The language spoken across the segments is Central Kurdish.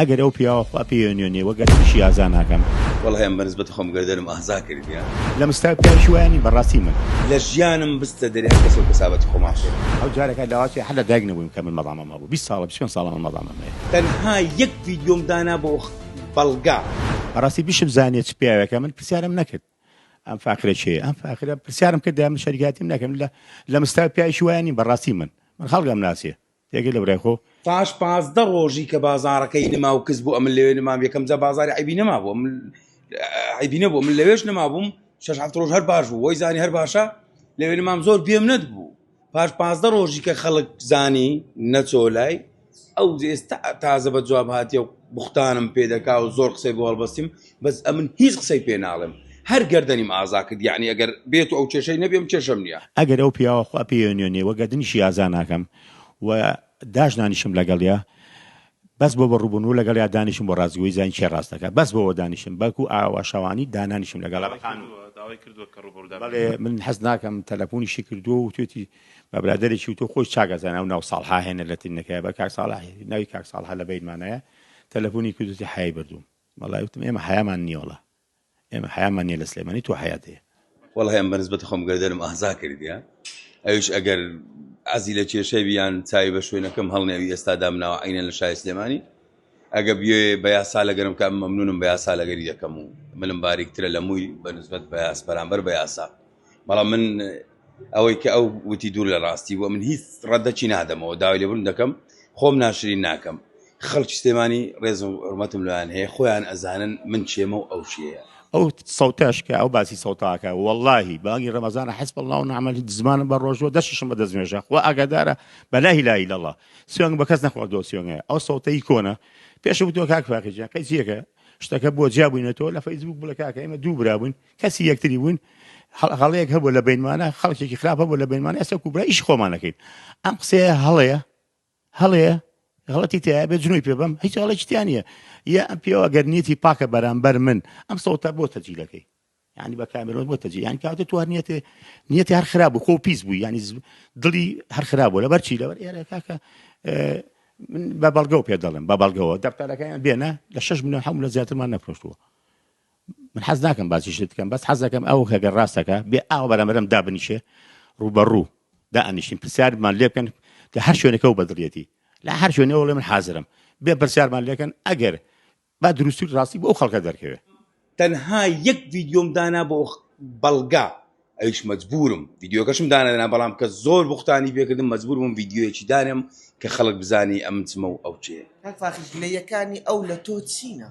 ئەگەر ئەو پیاوە خوا پێی ئەنوێنێ وە گەر منیشی ئازا ناکەم. وەڵای من بەنسبەت خۆم گەردەنم ئازا کردیە. لە مستەوای پیاویش وایە نیم بەڕاستی من. لە ژیانم بستە دەرێ هەر کەسەو کەسابەتی خۆمان شێت. ئەو جارەکە لاوەتێ هەر لە دایک نەبوویم کە من مەڵامەم هەبوو بیست ساڵە بیست پێنج ساڵە من مەڵامەم هەیە. تەنها یەک ڤیدیۆم دانا بۆ بەڵگە. بەڕاستی بشبزانیە چ پیاوێکە من پرسیارم نەکرد ئەم فاخرە کێیە ئەم فاخرە پرسیارم کردایە من شەریکاتیم نەکەم لە لە مستەوای پیاویش وایە نیم بەڕاستی من من خەڵکم ناسێ تێگەی لە برای خۆ. پاش پازدە ڕۆژی کە بازاڕەکەی نما و کز بوو ئەمن لەوێ نمام یەکەم جا بازاری عیبی نما بوو من عیبی نەبوو من لەوێش نما بووم شش هەفت ڕۆژ هەر باش بوو وای زانی هەر باشە لەوێ نمام زۆر بێم نەت بوو پاش پازدە ڕۆژی کە خەڵک زانی نەچۆ لای ئەو ئێستا تازە بە جواب هااتیە و بختانم پێدەکا و زۆر قسەی بۆڵبەستیم بەس ئەمن هیچ قسەی پێ ناڵێم هەر گەردەنیم ئازا کرد یەعنی ئەگەر بێتو ئەو کێشەی نەبێ من کێشەم نیە. ئەگەر ئەو پیاوە خوا پێیێنێ وە گەردنیشی ئازا ناکەم و داش نانیشم لەگەڵیا بەس بۆ بە ڕوبونوو لەگەڵیا دانیشم بۆ ڕاستگۆی زانین کێ ڕاست دەکا بەس بۆوە دانیشم بەڵکو ئاوا شەوانی دانانیشم لەگەڵا بە قانون بەڵێ من حەز ناکەم تەلەفونیشی کردوە و وتوێتی بە برادەرێکی وتۆ خۆی چاک ئەزانێ ئەو ناو ساڵحا هێنە لەتی نەکەیە بە کاک ساڵح ناوی کاک ساڵحە لە بەیت مانایە تەلەفونی کردوتی حەیای بردووم وەڵای وتم ئێمە حەیامان نیە وەڵا ئێمە حەیامان نیە لە سلێمانی تۆ حەیات هەیە. وەڵای ئەم بەنسبەت خۆم گەردەنم ئازا کردیە ئەویش ئەگەر عەزی لە کێشەی بیان چاوی بە شوێنەکەم هەڵنێوی ئێستا دامناوە عینەن لە شای سلێمانی ئەگە بیێ بە یاسا لەگەرم کە مەمنونم بە یاسا لەگەری دەکەم و ملم باریکترە لە مووی بە نسبەت بە یاس بەرامبەر بە یاسا بەڵام من ئەوەی کە ئەو وتی دوور لە ڕاستی بووە من هیچ ڕەدەچی نادەمەوە داوای لێبوون دەکەم خۆم ناشرین ناکەم خەڵکی سلێمانی ڕێز و حرمەتم لەیان هەیە خۆیان ئەزانن من چێمە و ئەو چێە ئەو سەوتەش کە ئەو باسی سەوتاکە واللهی بانگی ڕەمەزانە حەسب الله و نعم الوکیل زمانم بە ڕۆژوە دەشیشم بە دەستنوێژە خوا ئاگادارە بە لا اله الا الله سوێن بە کەس نەخواردووە سوێنگە ئەو سەوتەی کۆنە پێش وتوە کاک فاقی جیان قەیسیەکە شتەکە بۆ جیابووینەتەوە لە فەیسبوک بڵێ کاکە ئێمە دوو برا بووین کەسی یەکتری بووین هەڵەیەک هەبوو لە بینمانە خەڵکێکی خراپ هەبوو لە بینمان ئێستا کوبرا ئیش خۆمانەکەین ئەم قسەیە هەڵەیە هەڵەیە غڵەتی تیا بێ جنوی پێ بم هیچ هەڵێکیتیانە یا ئەم پێوە گەر نیەتی پاکە بەرامبەر من ئەم سەوتە بۆ تەجیلەکەی ینی بە کامرۆن بۆ تەجی یان کاتە تو نیەتێ نیەتی هەر خراپ بوو خۆ پیس بوو ینی دڵی هەر خراپ بوو لەبەر چی لەبەر ئێرە کاکە من بە بەڵگە و پێ دەڵم بە بەڵگەوە دەفتەرەکەیان بێنە لە 6 ملیۆن حمل لە زیاترمان نەفرۆشتووە من حەز ناکەم باسی شت بکەم بەس حەزەکەم ئەو هەگەر ڕاستەکە بێ ئاو بەرەمەرم دابنیشێ ڕوبەڕوو دا ئەنیشتین پرسیارمان لێ بکەن کە هەر شوێنەکە و بەدڵێتی لە هەر شوێنەوە بڵێ من حازرم بێ پرسیارمان لێکەن ئەگەر با دروستور ڕاستی بۆ ئەو خەڵکە دەرکەوێ تەنها یەک ڤیدیۆم دانا بۆ بەڵگە ئەویش مەجبورم ڤیدیۆکەشم دانەدەنا بەڵام کە زۆر بوختانی پێکردم مەجبور بووم ڤیدیۆیەکی دانێم کە خەڵک بزانی ئەمن چمە و ئەو چێ کاک فاخر گلەییەکانی ئەو لە تۆ چینە؟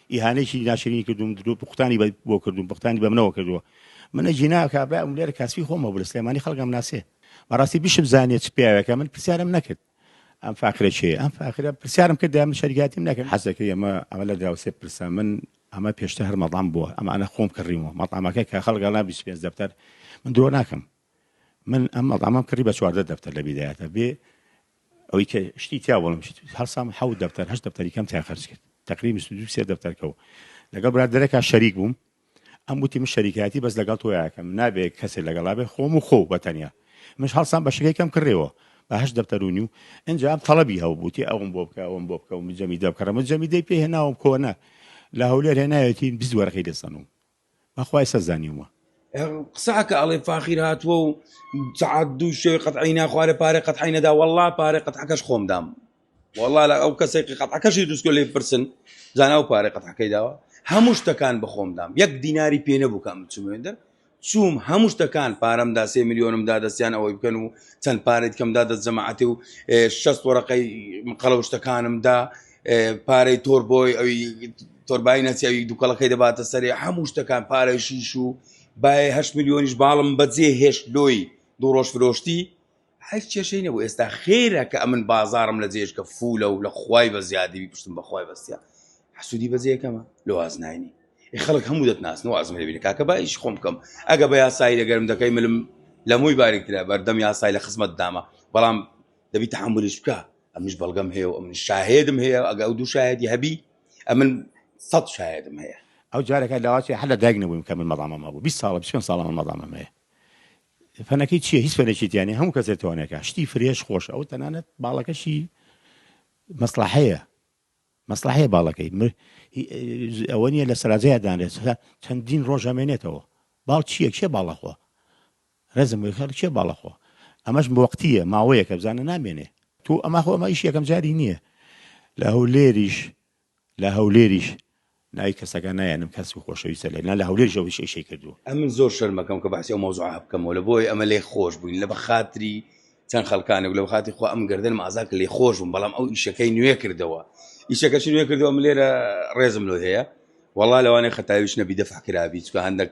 ئیهانەیەکی ناشرینی کردووم درۆ پوختانی بە- بۆ کردووم پختانی بە منەوە کردووە منە جینا کابرا ئەم لێرە کاسپی خۆمە بلە سلێمانی خەڵکم ناسێ بەڕاستی بشم زانێ چ پیاوێکە من پرسیارم نەکرد ئەم فاخرە چێ ئەم فاخرە پرسیارم کرد دام شەریاتیم نەکرد حەزەکە ئەمە ئەمە لە دراوسێ پرسە من ئەمە پێشتە هەر مەڵام بووە ئەمانە خۆم کڕیمەوە مەڵامەکە کە خەڵگەڵا 25 دەفتەر من درۆ ناکەم من ئەم مەڵامەم کڕی بە چواردە دەفتەر لە بیدایەتە بێ ئەوەی کە شتی تیا بڵم هەڵسام حەوت دەفتەر هەشت دەفتەری کەم تیا خەرج کرد تقری بیست و دوو سێ دەفتەرکە و لەگەڵ برادەرەکە شەریک بووم ئەم وتی من شەریکایەتی بەس لەگەڵ تۆ یاکەم نابێ کەسێک لەگەڵا بێ خۆم و خۆ بە تەنیا مش هەڵسان بە شەکەکەم کڕێەوە بە هەش دەفتەرونی و ئەجا ئەم تەڵەبی هەو بووتی ئەوم بۆ بکە ئەوم بۆ بکە و مجەمی دەبکەڕم جەمی دەی پێ هێناوم کۆنە لە هەولێر هێنایەتی بزوەرەکەی لەسەنوم بەخوا ئێستا زانیومە. قسە ئەکا ئەڵێ فاخیر هاتووە و سەعات دوو شەوی قەتعەی نا خوارێ پارەی قەتعەی نەدا وەڵڵا پارەی قەتعەکەش خۆم دام وەڵڵا لە ئەو کەسێک قەتعەکەشی دروستکە لێ بپرسن زانا ئەو پارەی قەتعەکەی داوە هەموو شتەکان بە خۆم دام یەک دیناری پێ نەبوو کە ئەم بچمێندەر چووم هەموو شتەکان پارەمدا سێ میلیۆنم دادەستیان ئەوەی بکەن و چەند پارێت کەمدا دەست جەماعەتی و شەست وەرەقەی قەڵەو شتەکانمدا پارەی تۆر بۆی ئەوی تۆربای نەچی ئەوی دووکەڵەکەی دەباتە سەرێ هەموو شتەکان پارەی شیش و باە هەشت میلیۆنیش باڵم بەجێ هێشت لۆی دوو ڕۆژ فرۆشتی هەر کێشەی نەبوو ئێستا خێرە کە ئەمن بازارم لە جێشکە فولە و لە خی بە زیادی پشتم بەخوای بەستە حسوودی بەجێەکەمە لە وازناینی خەڵک هەموو دەتناسن وازمە لەبینە کاکە بایش خۆم بکەم ئەگە بە یاسایی لەگەرم دەکەی ملم لە مووی باریکترە بەردەم یاسای لە خزمەت دامە بەڵام دەبی تحملیش بکە ئەمنیش بەڵگەم هەیە و ئەمن شاهێدم هەیە ئەگە ئەو دوو شاهێدی هەبی ئەمن سەد شاهێدم هەیە ئەو جارەکە لاواچێ هەر لە دایک نەبوویم کە من مەڵامەم هەبوو بیست ساڵە بیست و پێنج ساڵە من مەڵامەم هەیە فەنەکەی چییە هیچ فەنێکی تیا نیە هەموو کەسێک توانێکە شتی فرێش خۆش ئەو تەنانەت باڵەکەشی مەسلحەیە مەسلحەیە باڵەکەی مر هی- ئە- ئەوە نییە لە سەراجەیە دانرێت چەندین ڕۆژ ئەمێنێتەوە باڵ چییە کێ باڵەخوا رێزم بۆی خێڵ کێ باڵە خۆ ئەمەش موەقتیە ماوەیەکە بزانە نامێنێ تو ئەمە خۆ ئەمە ئیش یەکەم جاری نیە لە هەولێریش لە هەولێریش ناوی کەسەکان نایەنم کەس و خۆشەویستە لێ نا لە هەولێریش ئەو ئیشەی کردووە. ئەمن زۆر شەرمەکەم کە بەحسی ئەو مەوزوعە بکەمەوە لە بۆیە ئەمە لێ خۆش بووین لە بەخاتری چەند خەلکانێک لە بەخاتی خۆ ئەم گردنم ئازا کە لێ خۆش بووم بەڵام ئەو ئیشەکەی نوێ کردەوە ئیشەکەش نوێ کردەوە من لێرە ڕێزم لۆ هەیە وەڵا لەوانەیە خەتاویش نەبی دەفع کرابی چکە هەندێک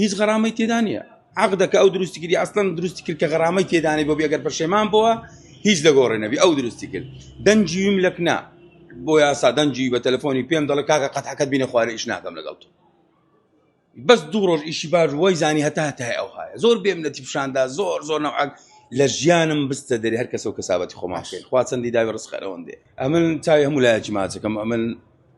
هیچ غەرامەی تێدا نییە عقدەکە ئەو دروستی کردی ئەستان دروستی کرد کە غەرامەی تێدانی بۆ بێگەر پەشێمان بووە هیچ لە گۆڕێ نەبی ئەو دروستی کرد دەنجی ویم لەکنا بۆ یاسا دەنجی بە تەلەفۆنی پێم دەڵێ کاکە قەت حەکەت بینە خوارە ئیش ناکەم لەگەڵ تۆ بەس دوو ڕۆژ ئیشی باش وای زانی هەتا هەتای ئەو هاە زۆر بێم لە تیپشاندا زۆر زۆر نەوعک لە ژیانم بستە دەری هەر کەسە و کەسابەتی خۆماشێن خواچەندی داوی ڕستخەرەوەندێ ئەمن چاوی هەموو لایەکی ماچەکەم ئەمن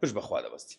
پشت بە خوا دەبەستین.